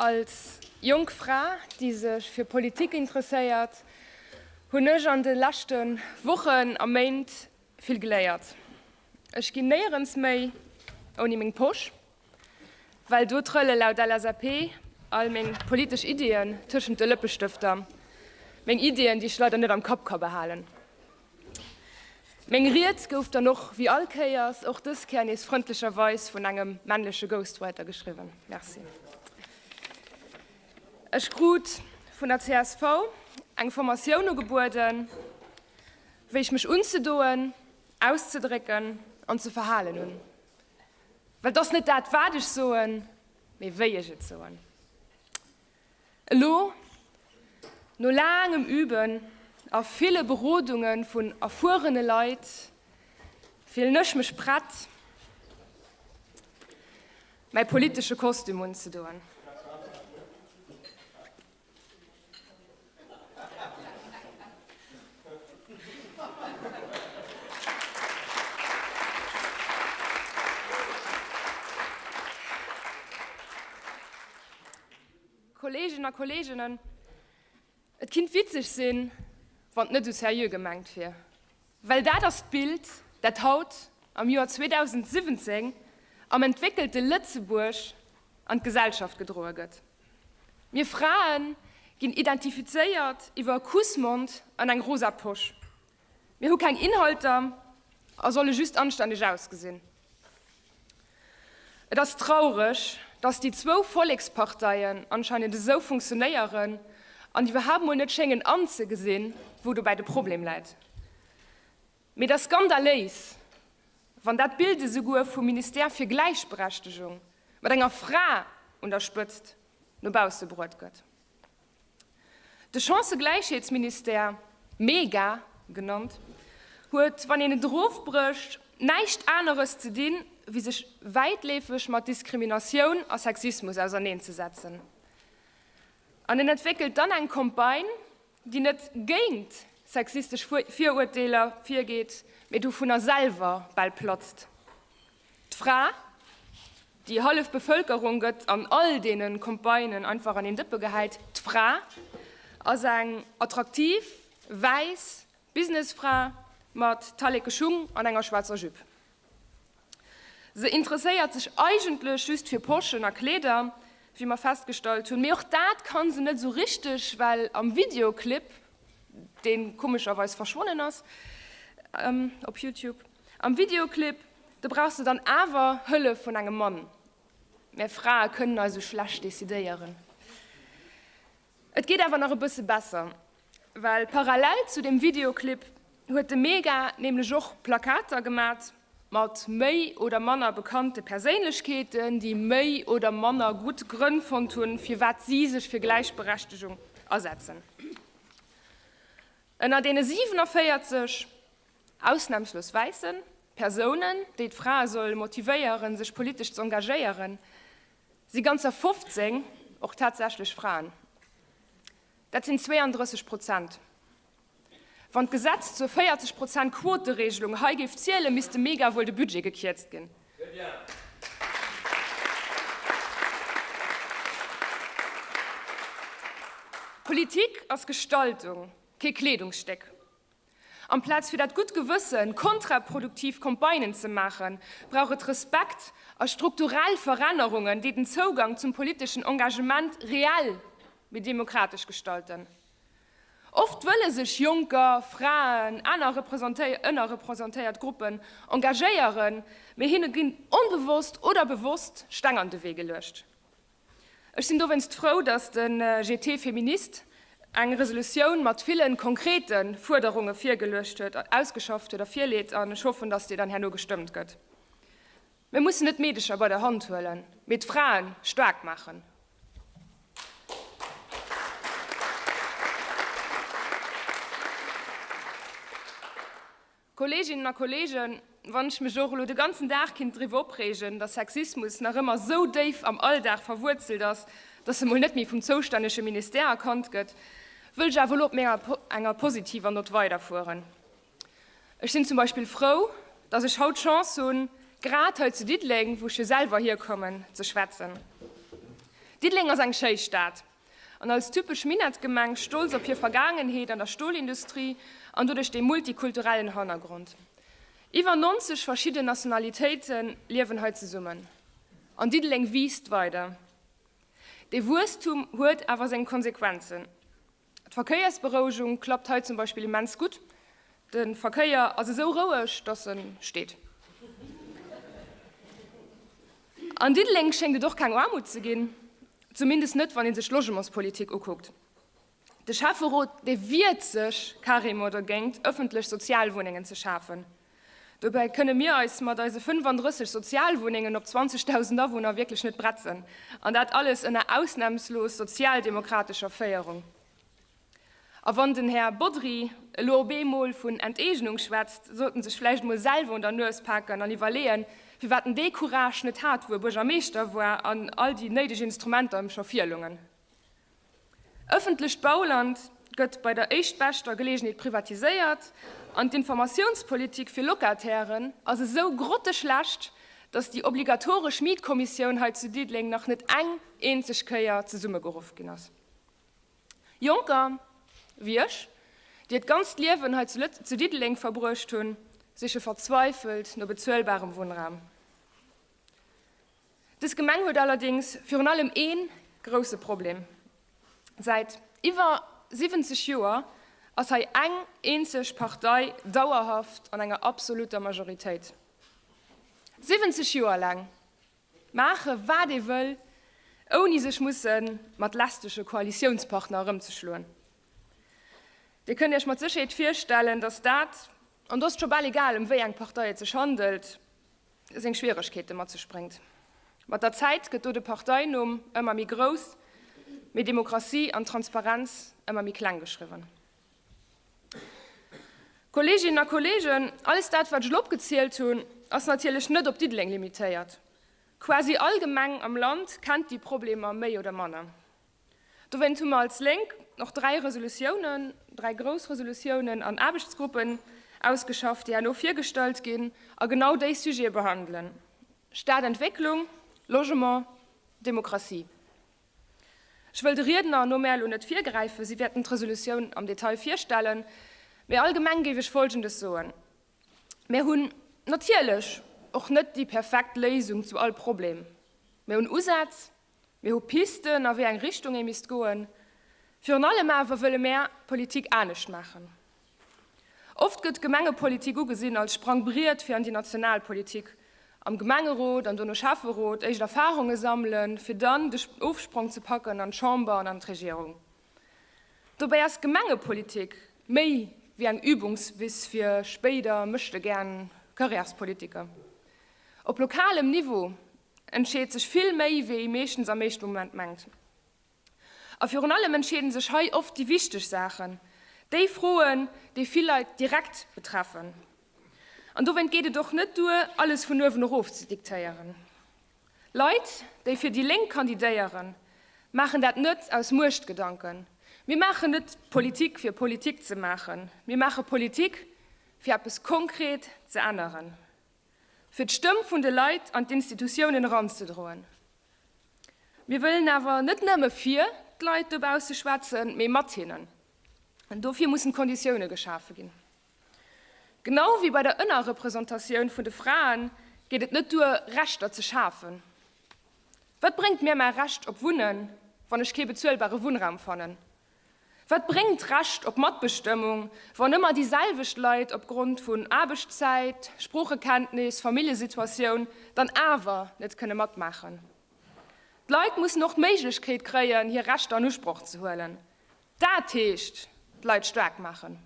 Als jonk Fra, déi sech fir Politik interesséiert, hunn ech an de leschte Wochen a Méint vill geléiert. Ech ginn néierens méi ouni meng Posch, well do trëlle laut LSAP all meng politesch Iddien tëschent de Lëppestëfter, meng Iddien, déi ech leider net am Kapp ka behalen. Meng Ried gouf dann och wéi all Kéiers och dës Kéier nees frëndlecherweis vun engem männleche Ghostwriter geschriwwen. Merci. Ech krut vun der csv eng Formatioun ugebueden, wéi ech mech unzedoen, auszedrécken an ze verhalen hunn. Well et ass net dat, wat ech soen, mee wéi ech et soen. Elo, no laangem Üben a ville Berodunge vun erfuerene Leit, fillen ech mech prett, mäi politesche Kostüm unzedoen. Kollegen a Kolleginnen, et kind witzeg sinn, wann net u seriö gemengt wier. Well dat ass d'Bild, dat haut am Joer 2017 am entwéckelte Lëtzebuerg an d'Gesellschaft gedroe gëtt. Mir Fraen ginn identifizéiert iwwer e Kussmond an eng rosa Posch. Mir hu keng Inhalter a solle just anstänneg ausgesinn. Et ass traureg, dass déi zwou Volleksparteien anscheinend esou funktionéieren an iwwerhaapt mol net schéngen anzegesinn, wou dobäi de Problem läit. Mee et ass skandaléis, wann dat Bild esouguer vum Ministère fir Gläichberechtegung, mat enger Fra un der Spëtzt, no bausse bruet gëtt. De Chancëgläichheetsministère, mega genannt, huet, wann een et erofbrécht, näischt aneres ze dinn, wéi sech wäitleefeg mat Diskriminatioun a Sexismus auserneenzesetzen. An en entwéckelt dann eng Campagne, déi net géint sexistesch Viruerteeler virgeet, mee dovunner selwer bal platzt. D'Fra, déi hallef Bevëlkerung gëtt an all deene Campagnen einfach an een Dëppe gehäit, d'Fra ass eng attraktiv, wäiss, Businessfra mat talleke Schung an enger schwaarzer Jupe. Se interesséiert sech eigentlech just fir Poschen a Kleeder, wéi mer festgestallt hunn. Mee och dat kann se net esou richteg, well am Videoclip, deen komescherweis verschwonnen ass op Youtube, am Videoclip, do brauchs de dann awer Hëllef vun engem Mann. Mär Frae kënnen eis esou schlecht decidéieren. Et geet awer nach e bësse besser. Well parallel zu dem Videoclip huet de Mega nämlech och Plakater gemat mat méi oder manner bekannte Perséinlechkeeten, déi méi oder manner gutt Grënn fonnt hunn, firwat si sech fir Gläichberechtegung asetzen. Ënner deene 47 ausnamslos wäisse Persounen, déi d'Frae solle motivéieren, sech politesch z'engagéieren, si ganzer 15 och tatsächlech Fraen. Dat sinn 32 Prozent. Wann d'Gesetz zur 40 Prozent Quoteregelung hei géif zielen, misste mega wuel de Budget gekierzt ginn. Politik ass Gestaltung, kee Kleedungsstéck. Amplaz fir dat gutt Gewëssen, kontraproduktiv Campagnen ze maachen, brauch et Respekt a strukturell Verännerungen, déi den Zougang zum politeschen Engagement reell méi demokratesch gestalten. Oft wëlle sech Jonker, Fraen, aner ënnerrepresentéiert Gruppen engagéieren, mee hinne ginn onbewosst oder bewosst Steng an de Wee geluecht. Ech sinn dowéinst frou, datt de GT Feminist eng Resolutioun mat ville konkrete Fuerderunge virgeluecht huet, ausgeschafft huet a virleet, an ech hoffen, datt déi dann herno gestëmmt gëtt. Mir mussen net d'Meedecher bei der Hand huelen, mee d'Frae staark maachen. Kolleeginnen a Kolleegen, wann ech mech och elo de ganzen Dag kinnt driwwer opreegen, datt Sexismus nach ëmmer esou déif am Alldag verwuerzelt ass, datt e mol net méi vum zoustännege Ministère erkannt gëtt, wëll ech awer elo op menger enger positiver Nott weiderfueren. Ech sinn zum Beispill frou, datt ech haut d'Chance hunn, grad hei zu Diddeleng, wou ech jo selwer hierkommen, ze schwätzen. Diddeleng ass eng schéi Stad, An als typesch Minettgemeng, stolz op hir Vergaangenheet an der Stolindustrie an doduerch dee multikulturellen Hannergrond, iwwer 90 verschidden Nationalitéite liewen hei zesummen, an Diddeleng wiisst weider. Dee Wuesstum huet awer seng Konsequenzen. D'Verkéiersberouegung klappt hei zum Beispill immens gutt, de Verkéier ass esou roueg, datt e steet. An Diddeleng schéngt et och keng Aarmut ze ginn, zumindest net wann ee sech d'Logementspolitik ukuckt. De Schäfferot dee wiert sech carrément dergéint ëffentlech Sozialwunnengen ze schafen. Dobäi kënne mir eis mat eise 35 Sozialwunnengen op 20.000 Awunner wierklech net bretzen, an dat alles ënner ausnamslos sozialdemokratescher Féierung. A wann den Här Bodry elo op eemol vun Enteegnung schwätzt, sollt en sech vläicht emol selwer un der Nues paken an iwwerleeën, firwat en dee Courage net hat, wou e Buergermeeschter war an all déi néideg Instrumenter em scho virloungen. Ëffentlecht Bauland gëtt bei der éischtbeschter Geleegenheet privatiséiert an d'Informatiounspolitik fir Locatairen ass esou grotteschlecht, dass déi obligatoresch Mietkommissioun hei zu Diddeleng nach net eng eenzeg Kéier zesummegeruff ginn ass. Jonker wéi ech, déi et ganzt Liewen hei zu Diddeleng verbruecht hunn, siche verzweifelt no bezuelbarem Wunnraum. Dës Gemeng huet allerdéngs virun allem ee grousse Problem, Säit iwwer 70 Joer ass hei eng eenzeg Partei dauerhaft an enger absolutter Majoritéit. 70 Joer laang! Maache wat ee wëll, ouni sech musse mat lästege Koalitiounspartner erëmzeschloen. Dir kënnt Iech mat Sécherheet virstellen, datt dat, an do ass et scho bal egal, ëm wéi eng Partei et sech handelt, seng Schwieregkeete mat sech bréngt. Mat der Zäit gëtt do de Parteinumm ëmmer méi grouss, mee Demokratie an Transparenz ëmmer méi kleng geschriwwen. Kolleeginnen a Kolleegen, alles dat, wat ech elo opgezielt hunn, ass natierlech net op Diddeleng limitéiert. Quasi all Gemeng am Land kennt déi Problemer méi oder manner. Dowéint hu mer als Lénk och dräi Resolutiounen, dräi grouss Resolutiounen an Aarbechtsgruppen ausgeschafft, déi herno virgestallt ginn a genau déi Sujete behandelen, Stadentwécklung, Logement, Demokratie. Ech wëll de Riedner no mär elo net virgräifen, si wäerten d'Resolutioun am Detail virstellen, mee allgemeng géif ech Folgendes soen, Mär hunn natierlech och net déi perfekt Léisung zu all Problem. Mir hunn Usätz, mir hu Pisten, a wéi eng Richtung ee misst goen. Virun allem awer wëlle mär d'Politik anescht maachen. Oft gëtt d'Gemengepolitik ugesinn als Sprangbriet fir an déi national Politik, am Gemengerot an dono Schäfferot éischt Erfarunge sammelen, fir dann de Ofsprong ze packen an d'Chamber an an d'Regierung. Dobäi ass d'Gemengepolitik méi wéi eng Übungswiss fir spéider Méchtegären Carrièrespolitiker. Op lokalem Niveau entscheet sech vill méi, wéi ee meeschtens am éischte Moment mengt. A virun allem entscheeden sech hei oft déi wichteg Saachen, déi Froen, déi vill Leit direkt betreffen. An dowéint geet et och net duer, alles vun uewen erof ze diktéieren. Leit, déi fir déi Lénk kandidéieren, maachen dat net aus Muechtgedanken. Mir maachen net Politik, fir Politik ze maachen. Mir maache Politik, fir eppes konkret ze änneren. fir d'Stëmm vun de Leit an d'Institutiounen eranzedroen. Mir wëllen awer net nëmme fir d'Leit dobausse schwätzen, mee mat hinnen. An dofir mussen d'Konditioune geschafe ginn. Genau ewéi bei der Ënnerrepresentatioun vun de Fraen geet et net duer, Rechter ze schafen. Wat bréngt mir mäi Recht op Wunnen, wann ech kee bezuelbare Wunnraum fannen? Wat bréngt d'Recht op Matbestëmmung, wann ëmmer déi selwecht Leit opgrond vun Aarbechtszäit, Sproochekenntnis, Familljesituatioun dann awer net kënne matmaachen? D'Leit mussen och d'Méiglechkeet kréien, hir Rechter an Usproch ze huelen. Dat heescht d'Leit staark maachen.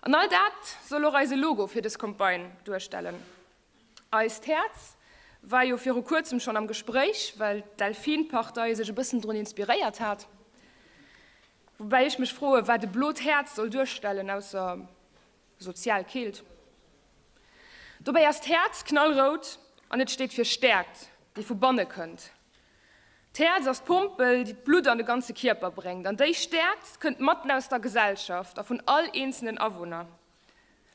An all dat soll och eise Logo fir dës Campagne duerstellen. Eist Häerz war jo viru kuerzem schonn am Gespréich, well d'Delfin-Partei sech e bëssen drun inspiréiert hat. Woubäi ech mech froe wat e blot Häerz soll duerstellen, ausser sozial Keelt. Dobäi ass d'Häerz knallrout an et steet fir Stäerkt, déi vu banne kënnt. D'Häerz ass d'Pompel, déi d'Blutt an de ganze Kierper bréngt. An déi Stäerkt kënnt matten aus der Gesellschaft a vun all eenzelen Awunner.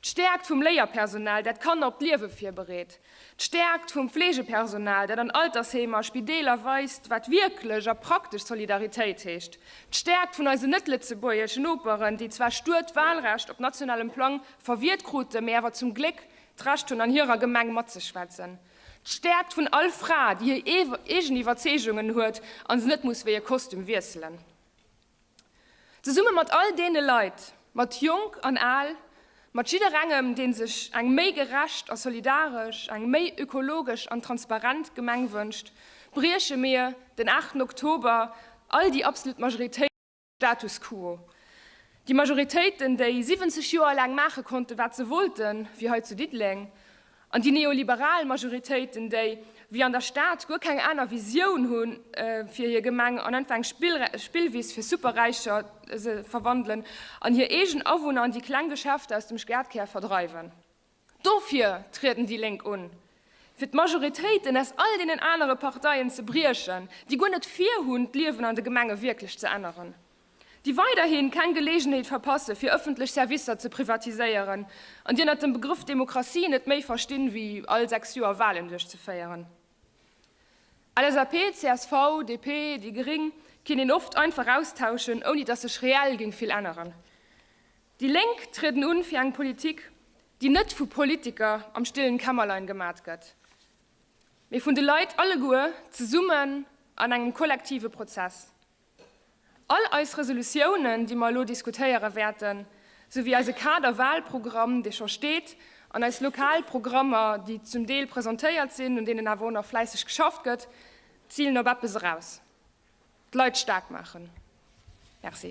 D'Stäerkt vum Léierpersonal, dat d'Kanner op d'Liewe virbereet. D'Stäerkt vum Fleegepersonal, dat an Altersheemer a Spideeler weist, wat wierklech a praktesch Solidaritéit heescht. D'Stäerkt vun eisen net-lëtzebuergeschen Noperen, déi zwar stur d'Wahlrecht op nationalem Plang verwiert kruten, mee awer zum Gléck d'Recht hunn, an hirer Gemeng matzeschwätzen. D'Stäerkt vun all Fra, déi hir eegen Iwwerzeegungen huet a se net muss wéi e Kostüm wiesselen. Zesumme mat all deene Leit, mat Jonk an Al, mat jidderengem, dee sech eng méi gerecht a solidaresch, eng méi ökologesch an transparent Gemeng wënscht, brieche mir den aachten Oktober all déi absolut Majoritéiten, de Status quo, déi Majoritéiten, déi 70 Joer laang maache konnten, wat se wollten, wéi hei zu Diddeleng, An déi neoliberal Majoritéiten, déi wéi an der Stad guer keng aner Visioun hu fir hir Gemeng an einfach eng Spillwiss fir Superräicher se verwandelen an hir eegen Awunner an déi kleng Geschäfter aus dem Stadkär verdreiwen. Dofir trieden déi Lénk un, fir d'Majoritéiten aus all deenen anere Parteien ze briechen, déi guer net vir hunn, d'Liewen an de Gemenge wierklech ze änneren. déi weiderhin keng Geleegenheet verpasse fir ëffentlech Servicer ze privatiséieren an déi ënnert dem Begrëff Demokratie net méi verstinn wéi all 6 Joer Wahlen duerchzeféieren. LSAP, csv, DP, déi Gering kinn een oft einfach austauschen ouni dass sech reell géing vill änneren. Déi Lénk trieden un fir eng Politik déi net vu Politiker am stillen Kämmerlein gemat gëtt, mee vun de Leit alleguer zesummen an engem kollektive Prozess. All eis Resolutiounen, déi mer elo diskutéiere wäerten, souwéi eise Kader-Wahlprogramm, dee scho steet, an eis lokal Programmer, déi zum Deel presentéiert sinn, un deenen awer och nach fläisseg geschafft gëtt, zilen op eppes eraus, d'Leit staark maachen. Merci.